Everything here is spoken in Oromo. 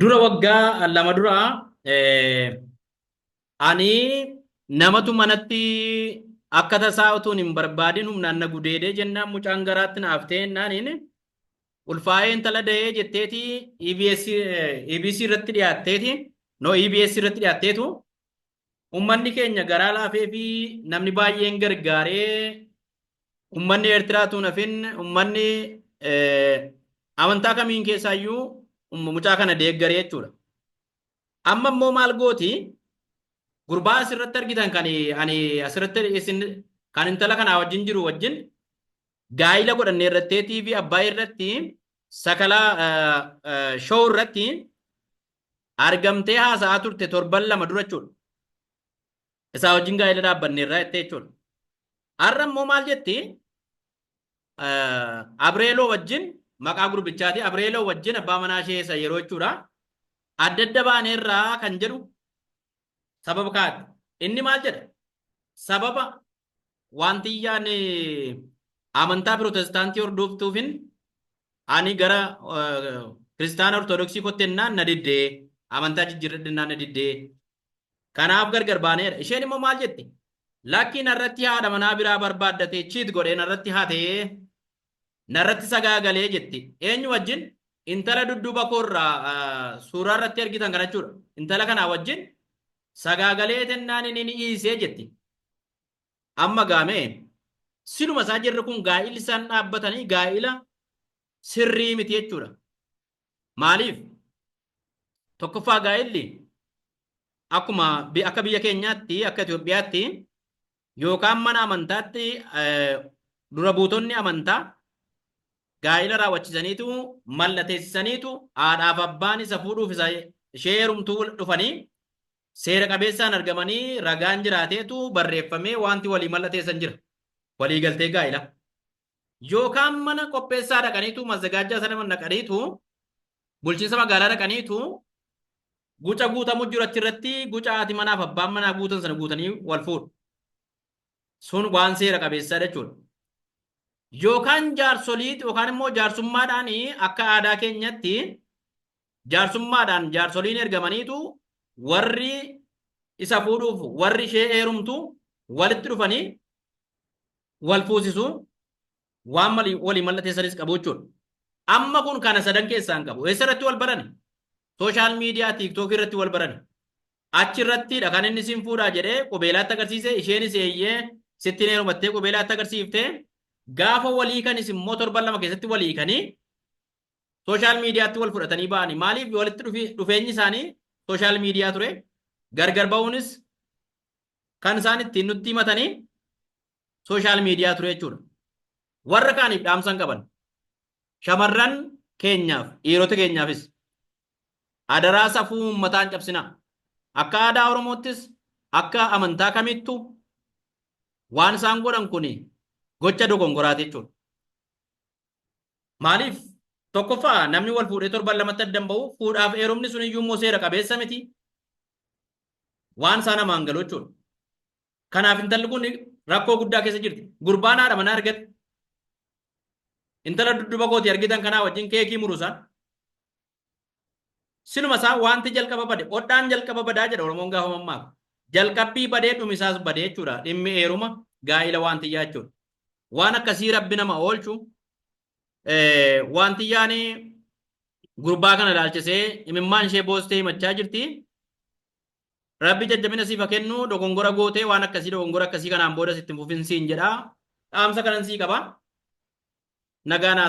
Dura waggaa lama dura ani namatu manatti akka tasaa utuun hin barbaadin humnaan na gudeedee jennaan mucaan garaatti na haftee jennaan inni ulfaa'ee intala dahee jetteeti EBS, EBC irratti dhiyaatteeti no EBS irratti dhiyaatteetu ummanni keenya garaa laafee fi namni baay'een gargaaree ummanni Eertiraa tuun hafin ummanni amantaa kamiin keessaayyuu mucaa kana deeggaree jechuudha. Amma immoo maal gooti gurbaa asirratti argitan kan ani asirratti isin kan intala kanaa wajjin jiru wajjin gaa'ila godhanne irratti TV abbaa irratti sakalaa show irratti argamtee haasa'aa turte torban lama dura jechuudha. Isaa wajjin gaa'ela dhaabbanneerraa jettee jechuudha. Har'a immoo maal jetti? Abreeloo wajjin maqaa gurbichaati. Abreeloo wajjin abbaa manaa ishee isa yeroo jechuudha. Adda adda baaneerraa kan jedhu sababa kaa'ate. Inni maal jedha? Sababa waantiyyaan amantaa pirootestaantii hordooftuufin ani gara kiristaana ortodoksii kotti ennaan na diddee amantaa jijjiirradhe ennaan na diddee kanaaf gargar baaneedha. Isheen immoo maal jetti? Lakkii narratti haadha manaa biraa barbaaddatee chiit godhee narratti hatee narratti sagaagalee jetti. Eenyu wajjin? Intala dudduuba koorraa suuraa irratti argitan kana jechuudha. Intala kanaa wajjin Sagaagalee tennaan inni ni iisee jetti. Amma gaamee siluma isaa jirri kun gaa'illi isaan dhaabbatanii gaa'ila sirrii miti jechuudha. Maaliif? Tokkoffaa gaa'illi akkuma akka biyya keenyaatti akka Itoophiyaatti yookaan mana amantaatti dura buutonni amantaa gaa'ila raawwachiisaniitu mallateessisaniitu haadhaaf abbaan isa fuudhuuf isa ishee heerumtuu dhufanii seera qabeessaan argamanii ragaan jiraateetu barreeffamee wanti walii mallateessan jira. Walii galtee gaa'ila. Yookaan mana qopheessaa dhaqaniitu mazagaajjaa sana dhaqaniitu bulchiinsa magaalaa dhaqaniitu Guca guutamu jiru achirratti guca haati manaaf abbaan manaa guutan sana guutanii wal fuudhu. Sun waan seera qabeessaa jechuudha. Yookaan jaarsoliit yookaan immoo jaarsummaadhaan akka aadaa keenyatti jaarsummaadhaan jaarsoliin ergamaniitu warri isa fuudhuuf warri ishee heerumtu walitti dhufanii wal fuusisu. Waan mali walii mallateessanis qabu jechuudha. Amma kun kana sadan keessaa hin qabu. Eessa irratti wal barani? Sooshaal miidiyaa tiiktookii irratti wal barani. Achi irrattidha kan inni sin fuudhaa jedhee qubeelaatti agarsiise isheenis eeyyee sitti hin heerumattee qubeelaatti agarsiifte gaafa walii kanis immoo torban lama keessatti walii kanii sooshaal miidiyaatti wal fudhatanii ba'anii maaliif walitti dhufi- dhufeenyi isaanii sooshaal miidiyaa ture gargar ba'uunis kan isaan ittiin nutti himatanii sooshaal miidiyaa ture jechuudha. Warra kaaniif dhaamsa hin qaban. Shamarran keenyaaf, dhiirota keenyaafis adaraa safuu uummataa hin cabsinaa. Akka aadaa Oromoottis akka amantaa kamittu waan isaan godhan kun gocha dogongoraati jechuudha. Maaliif? Tokkoffaa namni wal fuudhee torban lamatti addan ba'u fuudhaaf heerumni sun iyyuu immoo seera qabeessa miti. Waan isaa namaan galu jechuudha. Kanaaf intalli kun rakkoo guddaa keessa jirti. Gurbaan haadha manaa argate. Intala dudduba kooti argitan kanaa wajjin keekii murusaan. Siluma isaa wanti jalqaba bade odhaan jalqaba badaa jedha Oromoon gaafa mammaaka. Jalqabbii badee dhumisaas badee jechuudha. Dhimmi eeruma gaa'ila waantiyyaa jechuudha. Waan akkasii rabbi nama oolchu waantiyyaan gurbaa kana ilaalchisee imimmaan ishee boostee himachaa jirti. Rabbi jajjabina siif haa kennu dogongora gootee waan akkasii dogongora akkasii kanaan boodas itti hin fufin siin jedha. Dhaamsa kanan sii qaba. Nagaa naa